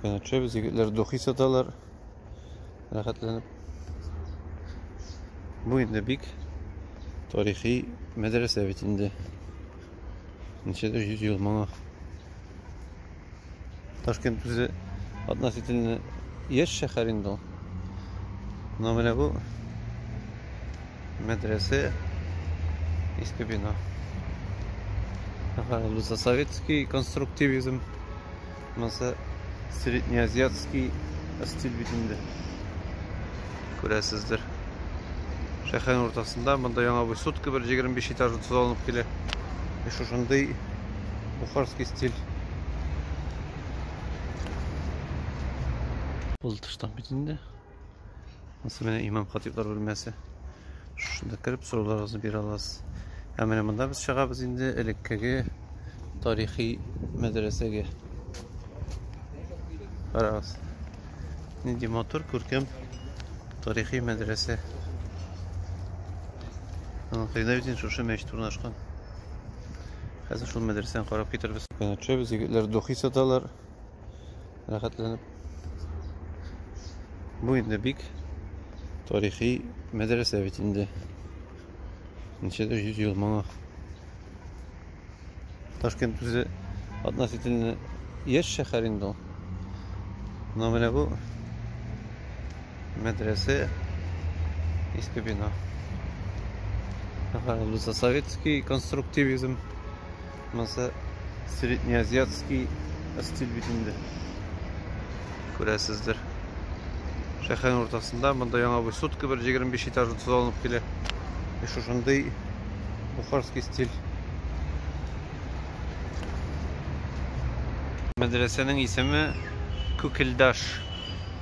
Менә төшәбез, егетләр духи саталар. Рәхәтләнеп. Бу инде бик тарихи мәдрәсә бит инде. Ничәдер 100 ел моңа. Ташкент үзе относительно яшь шәһәр инде ул. Но менә бу мәдрәсә иске бина. Ага, советский конструктивизм. Монысы среднеазиатский стиль бит инде. Күрәсездер. Шәһәрнең уртасында монда яңа высотка бер 25 этажлы төзелеп килә. И шушындый бухарский стиль. Ул тыштан бит инде. Монысы менә имам хатиблар бүлмәсе. Шунда кереп сорауларыгызны бирә аласыз. Ә менә монда без чыгабыз инде элеккеге тарихи мәдрәсәгә. Карагыз. Нинди матур күркәм тарихи мәдрәсә. Аның кыйда бит шушы мәчет урнашкан. Хәзер шул мәдрәсәне карап китербез. Көнәтчәбез, егетләр духи саталар. рәхәтләнеп. Бу инде бик тарихи мәдрәсә бит инде. Ничәдер 100 ел моңа. Ташкент үзе относительно яшь шәһәр инде ул. Но менә бу мәдрәсә иске бина. Советский конструктивизм Монысы среднеазиатский стиль бит инде. Күрәсездер. Шәһәрнең уртасында монда яңа бу сутка бер 25 этажлы төзелеп килә. И шушындый бухарский стиль. Мәдрәсәнең исеме Күкелдаш.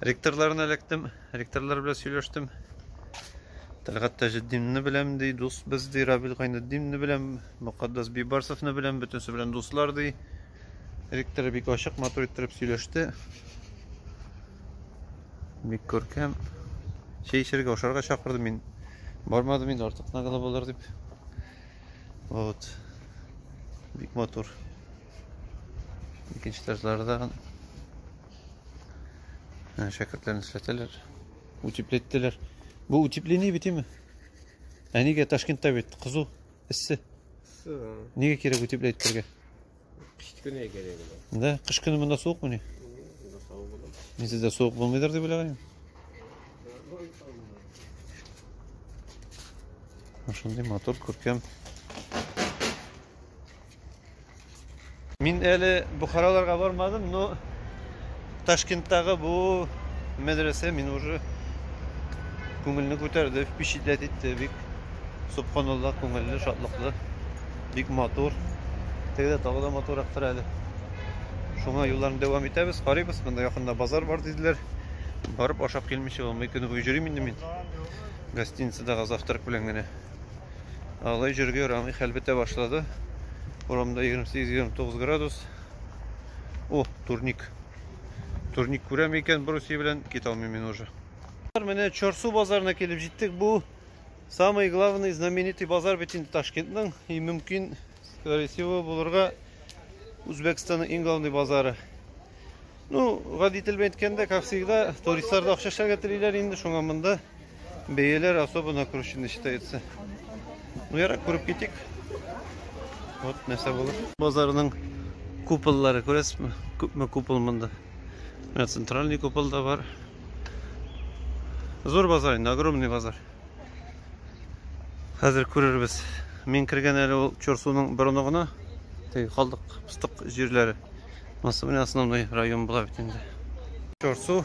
Ректорларына эләктем, ректорлар белән сөйләштем. Тәлгат Таҗетдинны беләм ди, дус без ди, Рабил Гайнетдинны беләм, Мөхәддәс Бибарсовны беләм, бөтенесе белән дуслар ди. Ректор бик ачык, матур иттереп сөйләште. Бик күркәм. Чәй эчәргә, ашарга чакырды мин. Бармадым инде, артык нагала булыр дип. Вот. Бик матур. Икенче этажлары да ә, шәкертләрне эшләтәләр. Утеплеттеләр. Бу утепление бит име? Ә нигә Ташкентта бит кызу, эссе. Нигә кирәк утеплять бергә? Кыш көне кирәк. Да, кыш көне монда суык мени? Мин сездә суык булмыйдыр дип уйлаганым. Шундый мотор күркәм. Мин әле Бухараларга бармадым, но Ташкенттагы бу мәдрәсә мин уже күңелне күтәрде, впечатлять итте бик. Субханаллах, күңелле, шатлыклы, бик матур. Тегедә тагы да матуррактыр әле. Шуңа юлларны дәвам итәбез, карыйбыз. Монда якында базар бар диделәр. Барып ашап килмичә булмый, көне буе йөрим инде мин. Гостиницадагы завтрак белән генә. Алай җөргә ярамый, хәл бетә башлады. Урамда 28-29 градус. О, турник. Турник күрәм икән, бруси белән кит алмыйм мин уже. Менә Чорсу базарына килеп җиттек. Бу самый главный знаменитый базар бит инде Ташкентның. И мөмкин, скорее всего, булырга Үзбәкстанның иң главный базары. Ну, гади тел белән әйткәндә, как всегда, туристлар да акча эшләргә телиләр инде, шуңа монда Бейелер особо накручены считается. Ну, ярак күреп китик. Вот, нәрсә булыр. Базарының куполлары күрәсезме? Күпме купол монда? Менә центральный купол да бар. Зур базар инде, огромный базар. Хәзер күрербез. Мин кергән әле ул Чорсуның борыны гына. Теге калдык, пыстык җирләре. Монысы менә основной район була бит инде. Чорсу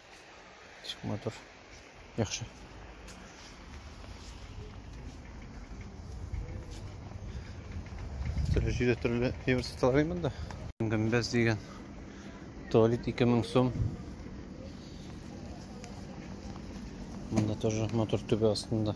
Ишек матур. Яхшы. Төрле җирдә төрле евро саталар монда. Гөмбәз дигән туалет 2000 сум. Монда тоже матур түбә астында.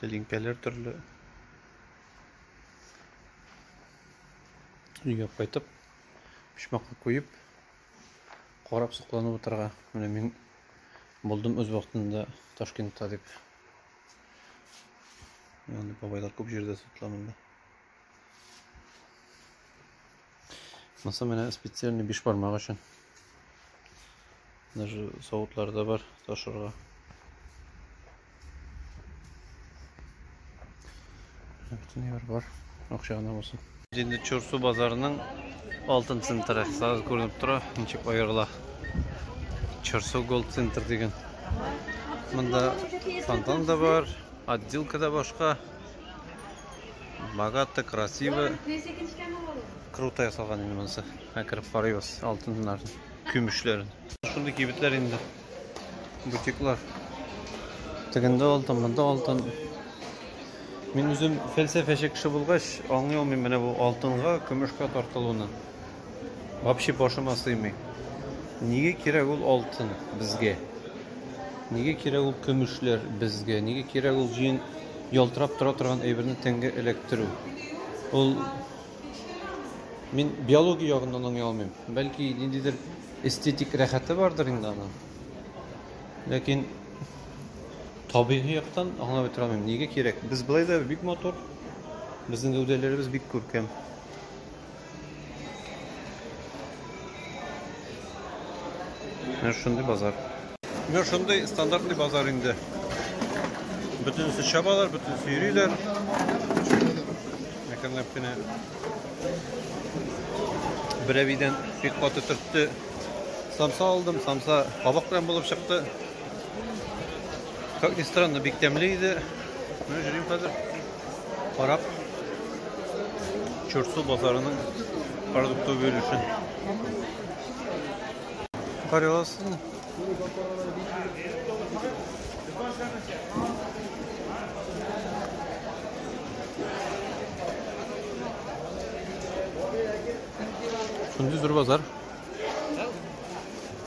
Тәлинкәләр төрле. Өйгә кайтып, пишмакка куеп, карап сокланып утырга. Менә мин булдым үз вакытында Ташкентта дип. Янды бабайлар күп җирдә сокланды. Маса менә специальный биш бармак өчен. Даже савытлар да бар ташырга. Бөтен бар бар. Акча гына булсын. Инде Чурсу базарының алтын центры. Сразу күренеп тора, ничек аерыла. Чурсу Gold Center дигән. Монда фонтан да бар, отделка да башка. Богато, красиво. Круто ясалган инде монысы. Ә кереп карыйбыз алтыннарын, көмешләрен. Шундый кибетләр инде. Бутиклар. Тегендә алтын, монда алтын. Мин үзем фәлсәфәче кеше булгач, аңлый алмыйм менә бу алтынга, көмешкә тартылуны. Вообще башыма сыймый. Нигә кирәк ул алтын безгә? Нигә кирәк ул көмешләр безгә? Нигә кирәк ул җен ялтырап тора торган әйберне тәнгә эләктерү? Ул мин биология ягыннан аңлый алмыйм. Бәлки ниндидер эстетик рәхәте бардыр инде аның. Ләкин табигый яктан аңлап бетерә алмыйм. Нигә кирәк? Без былай да бик матур. Безнең гәүдәләребез бик күркәм. Менә шундый базар. Менә шундый стандартный базар инде. Бөтенесе чабалар, бөтенесе йөриләр. Әкренләп кенә берәбидән бик каты төртте. Самса алдым, самса кабак белән булып чыкты. Как ни странно, бик тәмле иде. Менә җөрим хәзер. карап, Чурсу базарының продукты бөлешен. Карый аласызмы? Шундый зур базар.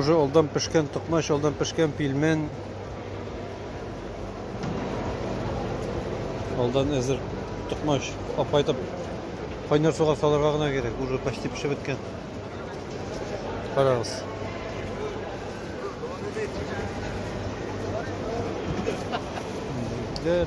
уже алдан пешкән токмач, алдан пешкән пилмен. Алдан әзер токмач апайтып кайнар суга салырга гына кирәк. Уже почти пешеп беткән. Карагыз. Дәр.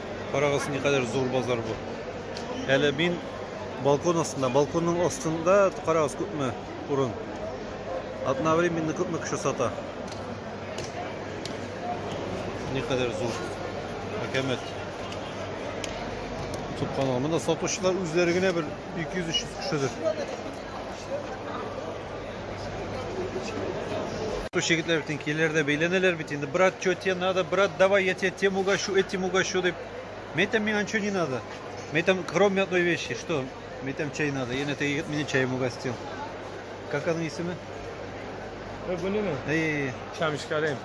Карагыз, никадәр зур базар бу. Әле мин балкон астында, балконның астында карагыз күпме урын. Одновременно күпме кеше сата. Никадәр зур. Әкәмәт. Субханалла. Монда сатучылар үзләре генә бер 200-300 кешедер. Туш егетләр бит киләләрдә бәйләнәләр бит инде. Брат, что тебе надо? Брат, давай, я тебе тем угощу, этим угощу дип. Мен там миңа ничего не надо. Мен там, кроме одной вещи, что? Мен там чай надо. Ен это егет меня чаем угостил. Как она исеме? Вы были? Эй, Шамиш Карим.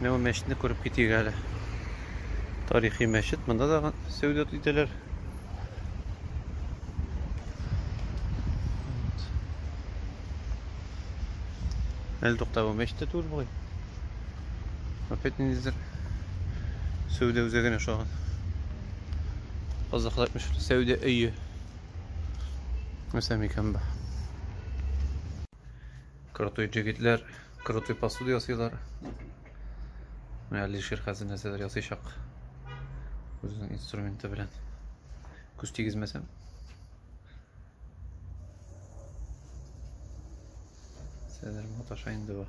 Менә бу мәчетне күреп китик әле. Тарихи мәчет. Монда да сәүдә итәләр. Әле туктап бу мәчет тә түгел бугай. Опять ниндидер сәүдә үзәгенә ошаган. Казахлар әйтмеш сәүдә өе. Нәрсә микән бу? Крутой җегетләр, крутой посуда ясыйлар. Менә Алишер хәзер нәрсәләр ясыйчак. Үзенең инструменты белән. Күз тигезмәсәм. Сәдер маташа инде бу.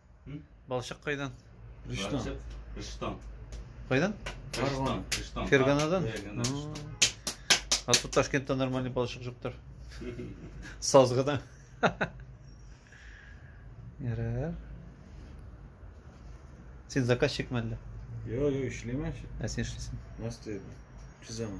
Балчык кайдан? Рөстәм. Рөстәм. Кайдан? Рөстәм. Рөстәм. Ферганадан? А тут Ташкентта нормальный балчык жуктыр. Сазгыдан. Ярар. Син заказчик мәллә? Йо, йо, эшләмә. Ә син эшлисең? Настя, чизәм.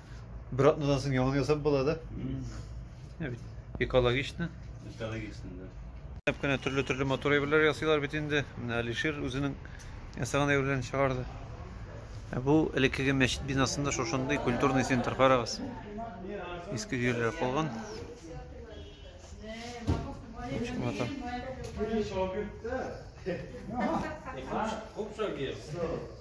Бер атнадан соң яңа ясап була да. Экологично. Экологично, да. Әп кенә төрле-төрле мотор әйберләр ясыйлар бит инде. Менә Алишер үзенең ясаган әйберләрен чыгарды. Ә бу элеккеге мәчет бинасында шушындый культурный центр карагыз. Иске җирләр калган. Чынлата. Күп шагыйрь.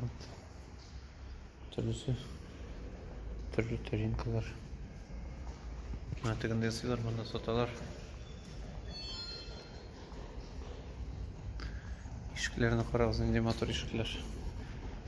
Вот. Төрлесе. Төрле тарелкалар. Менә тегенде ясыйлар, монда саталар. Ишекләрне карагыз, нинди матур ишекләр.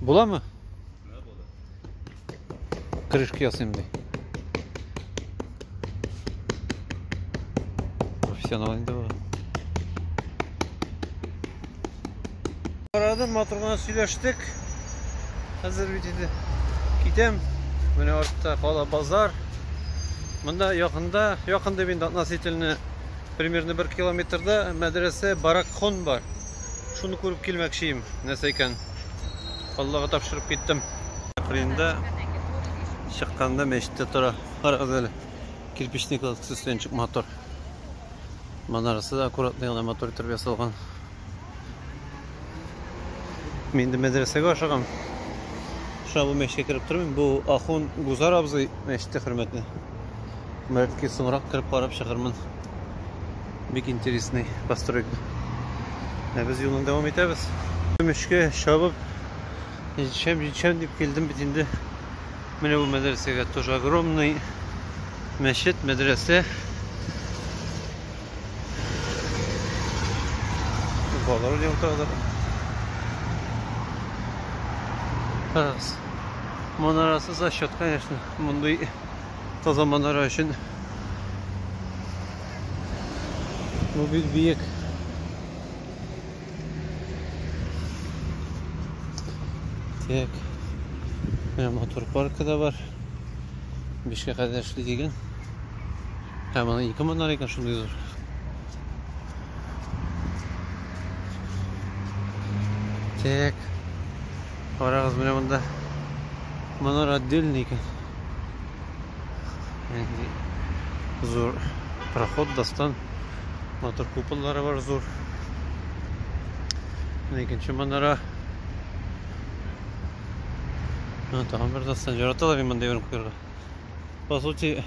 Буламы? Крышка ясыйм ди. Профессионал инде бу. Карадым, матур гына сөйләштек. Хәзер бит инде китәм. Менә артта кала базар. Монда якында, якында бит относительно примерно 1 километрда мәдрәсә Баракхон бар. Шуны күреп килмәкчием, нәрсә икән. Аллага тапшырып киттем. Кырында чыкканда мәчеттә тора. Карагыз әле. Кирпичный кладкасы өстеннән чык мотор. Манарасы да аккуратный гына мотор итеп ясалган. Мин инде мәдрәсәгә ашыгам. Шуңа бу мәчеткә кереп тормыйм. Бу ахун Гузар абзый мәчете хөрмәтенә. Бәлки соңрак кереп карап чыгармын. Бик интересный постройка. Ә без юлны дәвам итәбез. Көмешкә чабып, җитшәм, җитшәм дип килдем бит инде. Менә бу мәдрәсәгә тоже огромный мәчет, мәдрәсә. Балалар уйный утыралар. Карагыз. Манарасы зачет, конечно. Мондый таза манара өчен Бу бик биек. Так. Менә мотор паркы да бар. Бишкә кадәр эшли дигән. Һәм аны ике монар икән шундый зур. Так. Карагыз менә монда. Монар отдельный икән. Зур проход дастан матур куполлары бар зур. Икенче манара. Ну, тагын бер дастан жараталар мин монда йөреп күрергә. По сути,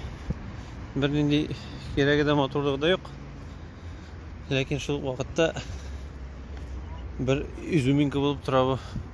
бернинди кирәге дә матурлыгы да юк. Ләкин шул вакытта бер изюминка булып тора бу.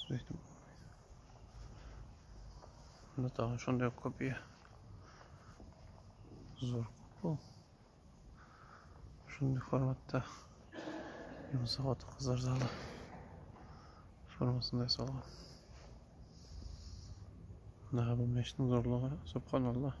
Сөйтіп болмайды. Мында тагын шундай копия. Зур купол. Шундый форматта Юнса хатын кызлар залы формасында ясалган. Мына бу мәчетнең зурлыгы, субханаллах.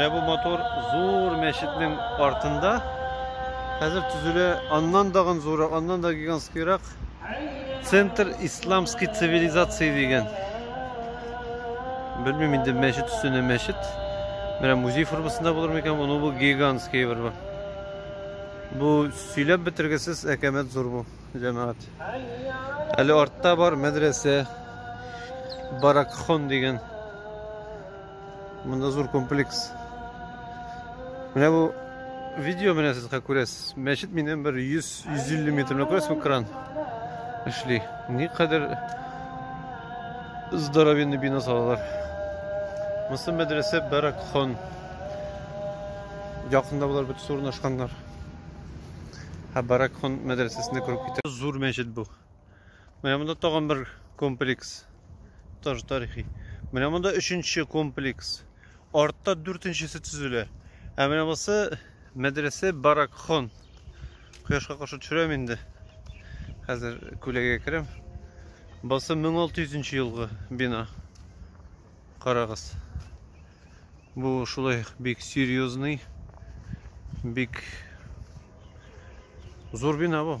Менә бу матур зур мәчетнең артында хәзер төзелә аннан дагын зуррак, аннан да гигантскийрак центр исламский цивилизации дигән. Белмим инде мәчет өстенә мәчет. Менә музей формасында булыр микән? Моны бу гигантский бер бу. Бу сөйләп бетергесез әкәмәт зур бу, җәмәгать. Әле артта бар мәдрәсә. Баракхон дигән Монда зур комплекс. Менә бу видео менә сез күрәсез. Мәчет миннән бер 100-150 метрлы күрәсезме кран эшли. Никадәр здоровенный бина салалар. Монысы мәдрәсә Баракхон. Якында болар бит урнашканнар. Һәм Баракхон мәдрәсәсенә кереп китә. Зур мәчет бу. Менә монда тагын бер комплекс. Тоже тарихи. Менә монда өченче комплекс. Артта дүртенчесе төзелә. Ә менә бусы мәдрәсә Баракхон. Кояшка каршы төшерәм инде. Хәзер күләгә керәм. Бусы 1600 елгы бина. Карагыз. Бу шулай бик серьезный, бик зур бина бу.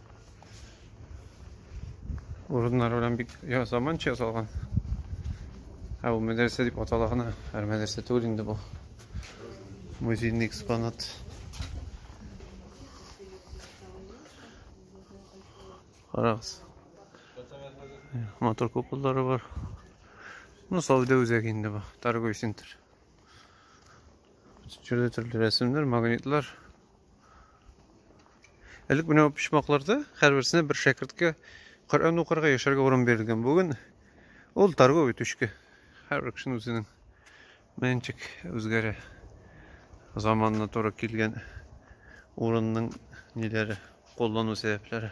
Урыннар белән бик я заманча ясалган. Ә ул мәдрәсә дип атала гына, һәр мәдрәсә түгел инде бу. Музейный экспонат. Карагыз. Мотор куполлары бар. Ну, Салды үзәге инде бу, торговый центр. Türlü türlü resimler, magnetler. Элек менә бу почмакларда һәрберсенә бер шәкерткә Коръән укырга, яшәргә урын бирелгән. Бүген ул торговый түшкә. Һәрбер кешенең үзенең мәнчик үзгәрә. Заманына туры килгән урынның ниләре, куллану сәбәпләре.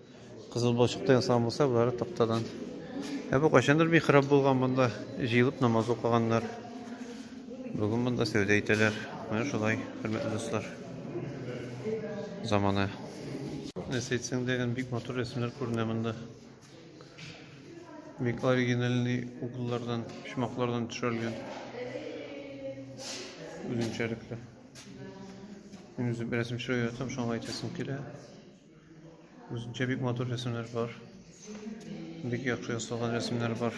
Кызыл балчыктан ясалган булса, болары тактадан. Ә бу кайчандыр михраб булган монда җыелып намаз укыганнар. Бүген монда сәүдә итәләр. Менә шулай, хөрмәтле дуслар. Заманы. Нәрсә әйтсәң дә, бик матур рәсемнәр күренә монда. Бик оригинальный угллардан, почмаклардан төшерелгән. Үзенчәлекле. Мин үзем рәсем төшерә яратам, шуңа әйтәсем килә. Үзенчә бик матур рәсемнәр бар. Бик яхшы ясалган рәсемнәр бар.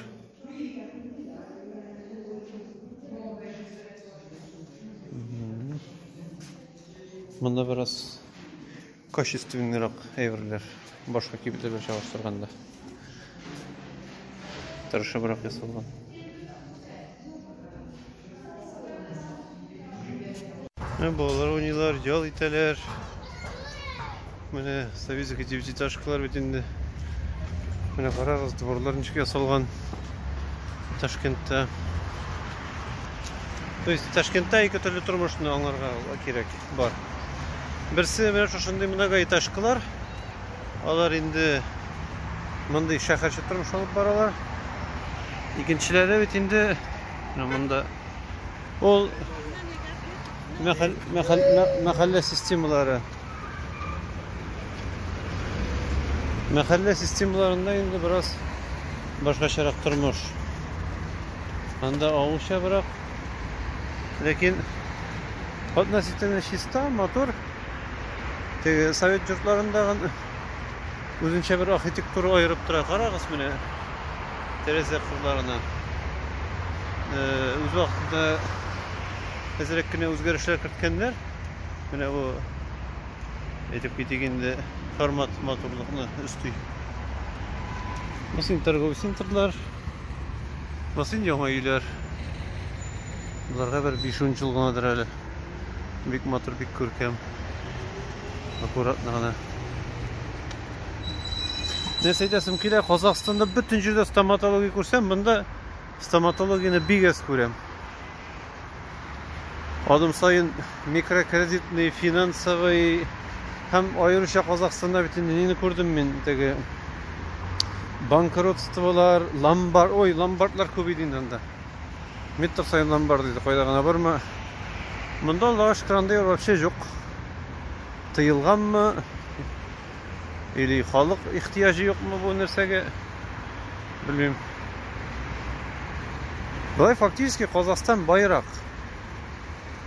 Монда бераз качественныйрак әйберләр башка кибетләр белән чагыштырганда. Тырышыбрак ясалган. Ә балалар уйныйлар, ял итәләр. Менә советский девятиэтажкалар бит инде. Менә карагыз, дворлар ничек ясалган Ташкентта. То есть Ташкентта ике төрле тормышны аңларга кирәк бар. Берсе менә шушындый многоэтажкалар. Алар инде мондый шәһәрче тормыш алып баралар. Икенчеләре бит инде монда ул мәхәллә системалары. Мәхәллә системаларында инде бераз башкачарак тормыш. Анда авылча бирок. Ләкин относительно чиста, мотор. Теге совет йортларындагы үзенчә бер архитектура аерып тора. Карагыз менә тәрәзә кырларына. Үз вакытында әзрәк кенә үзгәрешләр керткәннәр. Менә бу әйтеп китик инде формат матурлыкны өсти. Бассейн торговый центрлар, бассейн яңа өйләр. Боларга бер 5 жыл гынадыр әле. Бик матур, бик күркәм. Аккуратно гына. Нәрсә әйтәсем килә, Казахстанда бөтен җирдә стоматология күрсәм, монда стоматологияне бик әз күрәм. Адым саен микрокредитный, финансовый һәм аеруча Казахстанда бит инде нине күрдем мин теге банкротстволар, ломбард, ой, ломбардлар күп иде инде анда. Метр саеннан бар диде, кайда гына барма. Монда Аллага шөкер андый вообще юк. Тыелганмы? Или халык ихтияҗы юкмы бу нәрсәгә? Белмим. Болай фактически Казахстан байрак.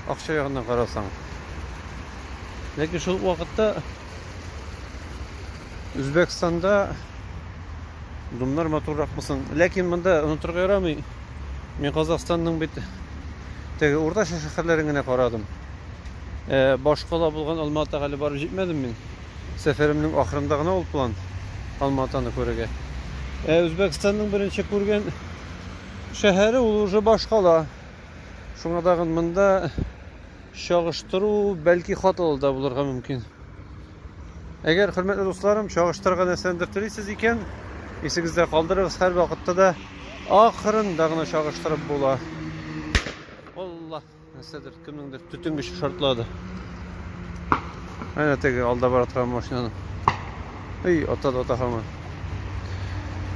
Акча ягыннан карасаң. Ләкин шул вакытта Үзбәкстанда Думнар матуррак мысын. Ләкин монда онытырга ярамый. Мин Казахстанның бит теге уртача шәһәрләрен генә карадым. Э, башкала булган Алматага әле барып җитмәдем мин. Сәфәремнең ахырында гына ул план Алматаны күрергә. Э, Үзбәкстанның беренче күргән шәһәре ул уже башкала. Шуңа тагын монда Чагыштыру бәлки хаталы да булырга мөмкин. Әгәр, хөрмәтле дусларым, чагыштырырга нәрсәндер телисез икән, исегездә калдырыгыз, һәрвакытта да ахырында гына чагыштырып була. Алла, нәрсәдер, кемнеңдер төтенгече шартлады. Әнә теге алда бара торган машинаны. Эй, ата да ата һаман.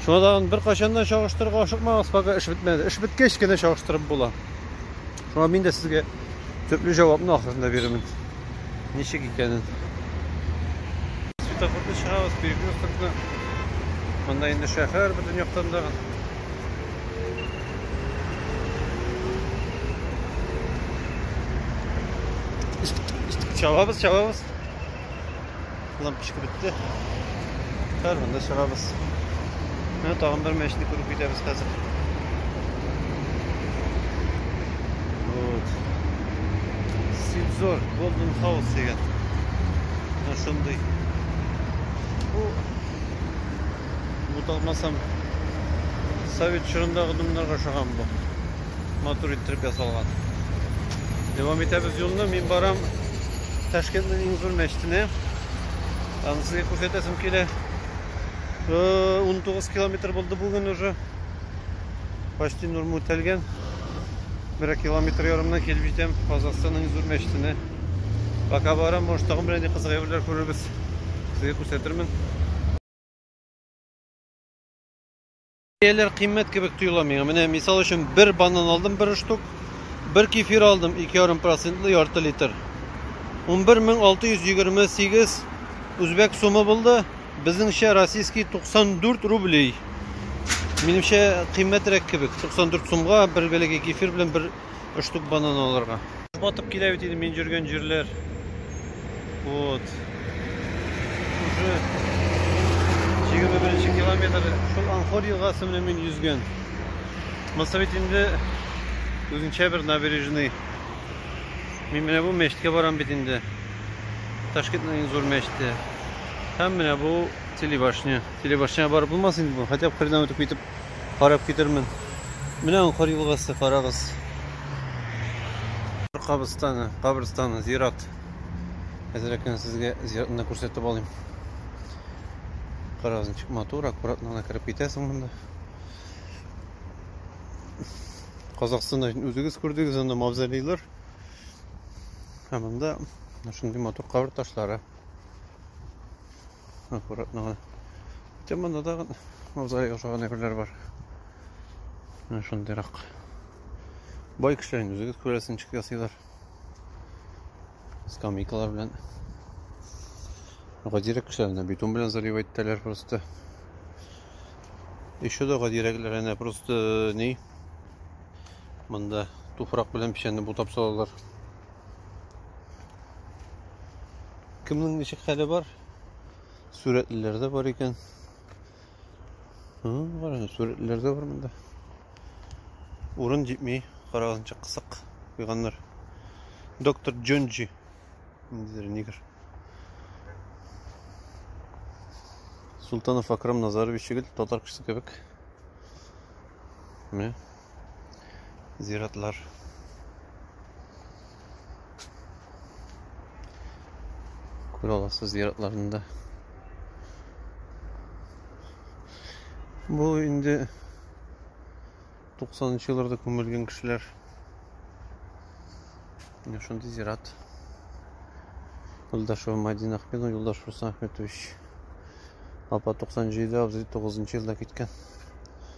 Шуңа тагын беркайчан да чагыштырырга ашыкмагыз, пока эш бетмәде. Эш беткәч кенә чагыштырып була. Шуңа мин дә сезгә төпле җавапны ахырында бирермен. Ничек икәнен. Светофорны чыгабыз, перекресткны. Монда инде шәһәр бөтен яктан да. Чабабыз, чабабыз. Лампочка бетте. Хәзер монда чыгабыз. Менә тагын бер мәчетне күреп китәбез хәзер. Вот. Сидзор Golden House дигән. Менә шундый. Бу буталмасам совет чорындагы думнарга ошаган бу. матур иттереп ясалган. Дәвам итәбез юлны. Мин барам Ташкентның иң зур мәчетенә. Аны сезгә күрсәтәсем килә. 19 километр булды бүген уже. Почти норма үтәлгән. Бер километр ярымнан килеп җитәм Казахстанның иң зур мәчетенә. Пока барам, может, тагын бер нинди кызык әйберләр күрербез. Сезгә күрсәтермен. Бәяләр кыйммәт кебек тоела миңа. Менә мисал өчен бер банан алдым, бер штук. Бер кефир алдым, 2,5 процентлы ярты литр. 11628 үзбәк сумы булды. Безнеңчә российский 94 рублей. Минемчә кыйммәтрәк кебек. 94 сумга бер бәләкәй кефир белән бер 3 штук банан алырга. Батып килә бит инде мин жүргән җирләр. Вот. Уже 21 километр шул Анхор елгасы белән мин йөзгән. Монысы бит инде үзенчә бер набережный. Мин менә бу мәчеткә барам бит инде. Ташкентның иң зур мәчете. Һәм менә бу телебашня. Телебашняга барып булмас инде бу. Хотя бы хренаутып китеп карап китермен. Менә Анкар елгасы, карагыз. Кабырстаны, кабырстаны, зират. Әзрәк кенә сезгә зиратны күрсәтеп алыйм. Карагыз, ничек матур, аккуратно гына кереп китәсең монда. Казахстанда үзегез күрдегез анда мавзолейлар. Һәм монда шундый матур кабер ташлары. Аккуратно гына. Хотя монда да мавзолей ошаган әйберләр бар. Менә шундыйрак. Бай кешеләр инде үзегез күрәсез ничек ясыйлар. Скамейкалар белән. Гадирәк кешеләрне бетон белән залив иттеләр просто. Еще да гадирәкләр әнә просто ни? Монда туфрак белән печәнне бутап салалар. кемнең ничек хәле бар сурәтлеләр дә бар икән караңыз сурәтлеләр дә бар монда урын җитми карагызчы кысык куйганнар доктор джонджи ниндидер нигер султанов акрам назарович егет татар кешесе кебек міне зиратлар. Күр аласыз зиратларында. Бу инде 90-нчы елларда күмелгән кешеләр. Менә шундый зират. Юлдашева Мадина Ахмедова, Юлдаш Руслан Ахметович. Апа 97 абзый 9 елда киткән.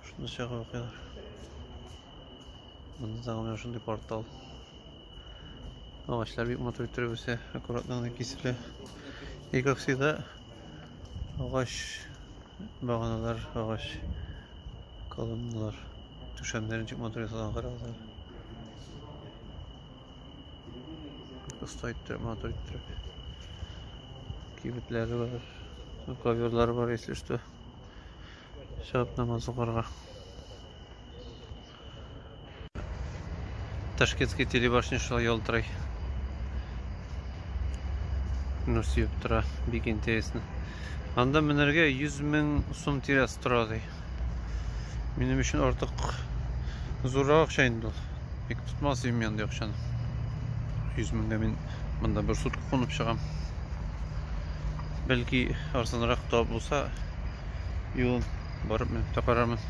Шуны чыгып укыйлар. Монда тагы менә шундый портал. Агачлар бик матур иттереп үсә, аккуратно гына киселә. И как всегда, агач баганалар, агач колонналар. Түшәмнәрен чик матур ясалган карагызлар. Оста иттереп, матур иттереп. Кибетләре бар, коверлар бар, если что. Шәп намаз укырга. Ташкентский телебашня шулай ялтырый. Ну, сөеп тора. Бик интересно. Анда менәргә 100 мең сум тирәс тора ди. Минем өчен артык зуррак акча инде ул. Бик тотмас идем янда акчаны. 100 меңгә мин монда бер сутка кунып чыгам. Бәлки арзанрак та булса, юлын барып менеп тә карармын.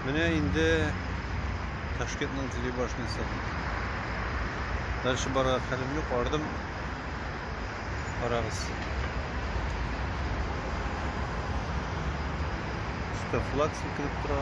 Менә инде Ташкентның телебашнясы. Дальше барырга хәлем юк, ардым. Карагыз. Өстә флаг селкенеп тора.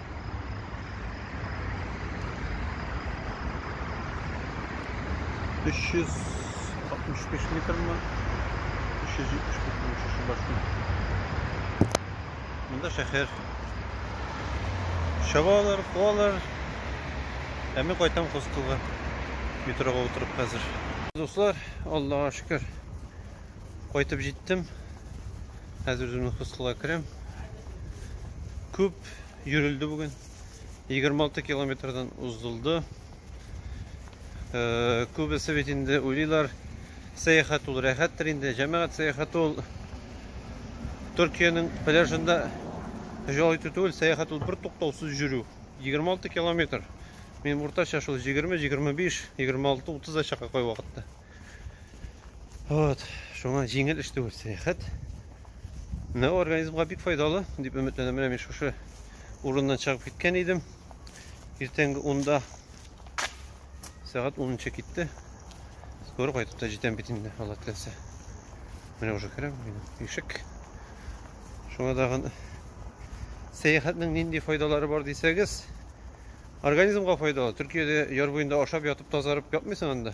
Өч йөз алтмыш биш метрмы? Өч йөз җитмеш метрмы шушы башны? Монда шәһәр. Чабалар, куалар. Ә мин кайтам хостелга. Метрога утырып хәзер. Дуслар, Аллаһа шөкер. Кайтып җиттем. Хәзер үземнең хостелга керәм. Күп Йөрелде бүген. 26 километрдан уздылды. Э, күбесе бит инде уйлыйлар, сәяхәт ул рәхәттер инде. Җәмәгать сәяхәте ул Төркиянең пляжында җал итү түгел, сәяхәт ул бер туктаусыз йөрү. 26 километр. Мин уртача шул 20, 25, 26, 30 да чака кай вакытта. Вот, шуңа җиңел эш түгел сәяхәт. Менә организмга бик файдалы, дип өметләнәм. Менә мин шушы урыннан чыгып киткән идем. Иртәнге 10-да сәгать 10-нчы китте. Скоро кайтып та җитәм бит инде, Алла теләсә. Менә уже керәм, минем ишек. Шуңа дагын сәяхәтнең нинди файдалары бар дисәгез, организмга файдалы. Төркиядә яр буенда ашап ятып тазарып ятмыйсың анда.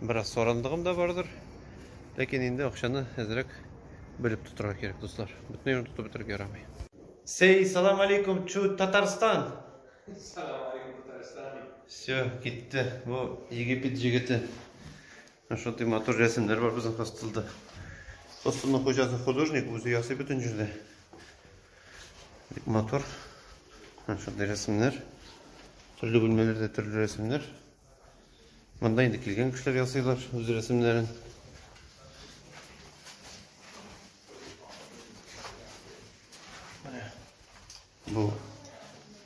Бераз сарандыгым да бардыр. Ләкин инде акчаны әзрәк белеп тотырга кирәк, дуслар. Бөтен юлын тотып бетереп ярамый. Сей, салам алейкум, чу Татарстан. Салам алейкум, Татарстан. Все, китте. Бу Египет җигете. Шундый матур рәсемнәр бар безнең хостелда. Хостелның хуҗасы художник, үзе ясый бөтен җирдә. Бик матур. Шундый рәсемнәр. Төрле бүлмәләрдә төрле рәсемнәр. Монда инде килгән кешеләр ясыйлар үз рәсемнәрен. Бу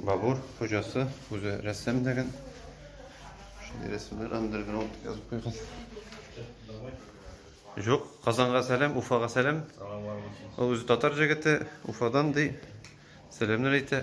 Бабур хуҗасы үзе рәссам дигән. Шундый рәсемнәр андерграунд язып куйган. Жоқ, Казанга сәлем, Уфага сәлем. Ул үзе татар җегете, Уфадан ди. Сәламнәр әйтә.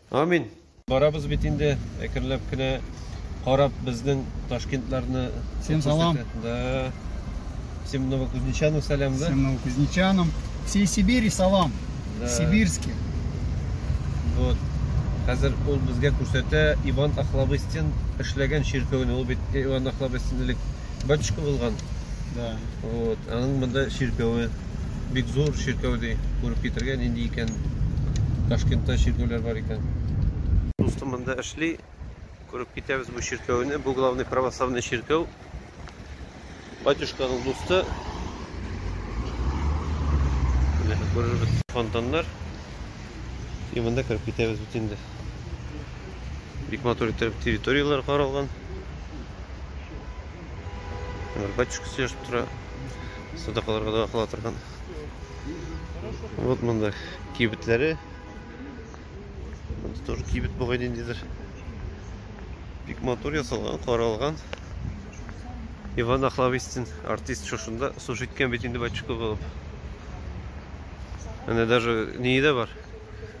Амин. Барабыз бит инде, әкренләп кенә карап безнең Ташкентларны. Всем салам. Да. Всем новокузнечанам салям, да? Всем новокузнечанам. Всей Сибири салам. Да. Сибирский. Вот. Хәзер ул безгә күрсәтә Иван Ахлобыстин эшләгән чиркәүне. Ул бит Иван Ахлобыстин элек Батюшка булган. Да. Вот. Аның монда чиркәве бик зур чиркәү ди. Күреп китергә нинди икән. Ташкентта чиркәүләр бар икән. Дустым монда эшли. Күреп китәбез бу чиркәүне. Бу главный православный чиркәү. Батюшканың дусты. Менә күрербез фонтаннар. И монда кереп китәбез бит инде. Бик матур итеп территорияләр каралган. Батюшка сөйләшеп тора. Садакаларга да кыла торган. Вот монда кибетләре. Монда тоже кибет бугай ниндидер. Бик матур ясалган, каралган. Иван Ахлавистин артист шушында служить иткән бит инде батюшка булып. Әнә даже не бар.